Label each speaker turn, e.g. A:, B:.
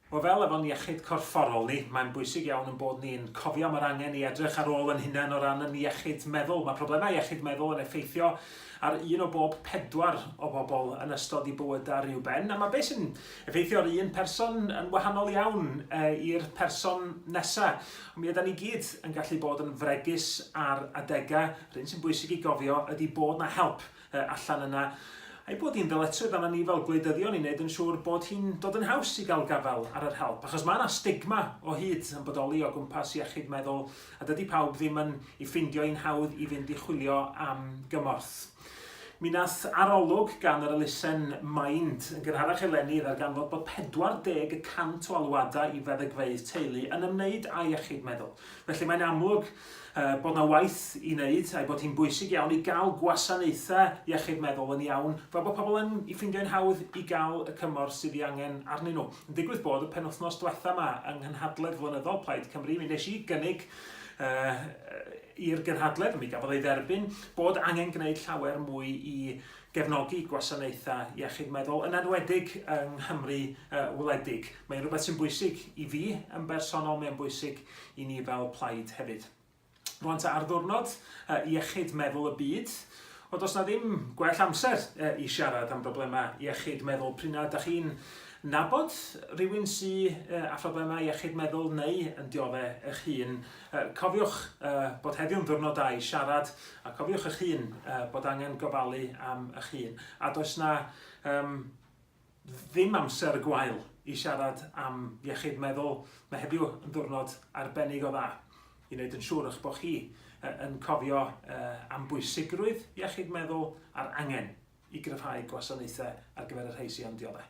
A: Wel, fel efo'n iechyd corfforol ni, mae'n bwysig iawn yn bod ni'n cofio am yr angen i edrych ar ôl yn hunain o ran yn iechyd meddwl. Mae problemau iechyd meddwl yn effeithio ar un o bob pedwar o bobl yn ystod i bywydau rhyw ben, a mae beth sy'n effeithio ar un person yn wahanol iawn e, i'r person nesaf. Ond mi yda ni gyd yn gallu bod yn fregus ar adegau. Rhyn sy'n bwysig i gofio ydy bod na help y allan yna, a'i bod hi'n ddyletswydd arna ni fel gwleidyddion i wneud yn siŵr bod hi'n dod yn haws i gael gafael ar yr help, achos mae yna stigma o hyd yn bodoli o gwmpas iechyd meddwl, a dydy pawb ddim yn ei ffeindio hi'n hawdd i fynd i chwilio am gymorth. Mi wnaeth arolwg gan yr elusen Mind yn gynharach eleni ddarganfod bod 40 y cant o alwadau i feddygfeydd teulu yn ymwneud â iechyd meddwl. Felly mae'n amlwg bod yna waith i wneud a'i bod hi'n bwysig iawn i gael gwasanaethau iechyd meddwl yn iawn fel bod pobl yn i ffeindio'n hawdd i gael y cymorth sydd ei angen arnyn nhw. Yn digwydd bod y penwythnos diwetha yma yng nghynhadledd flynyddol Plaid Cymru mi wnes i gynnig i'r gynhadledd, mi gafodd ei dderbyn, bod angen gwneud llawer mwy i gefnogi gwasanaethau iechyd meddwl, yn enwedig yng Nghymru wledig. Mae'n rhywbeth sy'n bwysig i fi yn bersonol, mae'n bwysig i ni fel plaid hefyd. Rwan ta ar ddwrnod iechyd meddwl y byd, ond os na ddim gwell amser i siarad am broblemau iechyd meddwl prina da chi'n nabod rhywun sy a phroblemau iechyd meddwl neu yn diodde eich hun, cofiwch bod heddiw'n ddwrnod da i siarad a cofiwch eich hun bod angen gofalu am eich hun. A does na um, ddim amser gwael i siarad am iechyd meddwl. Mae heddiw yn ddwrnod arbennig o dda i wneud yn siŵr eich bod chi yn cofio am bwysigrwydd iechyd meddwl a'r angen i gryfhau gwasanaethau ar gyfer y rhai sy'n am dioddef.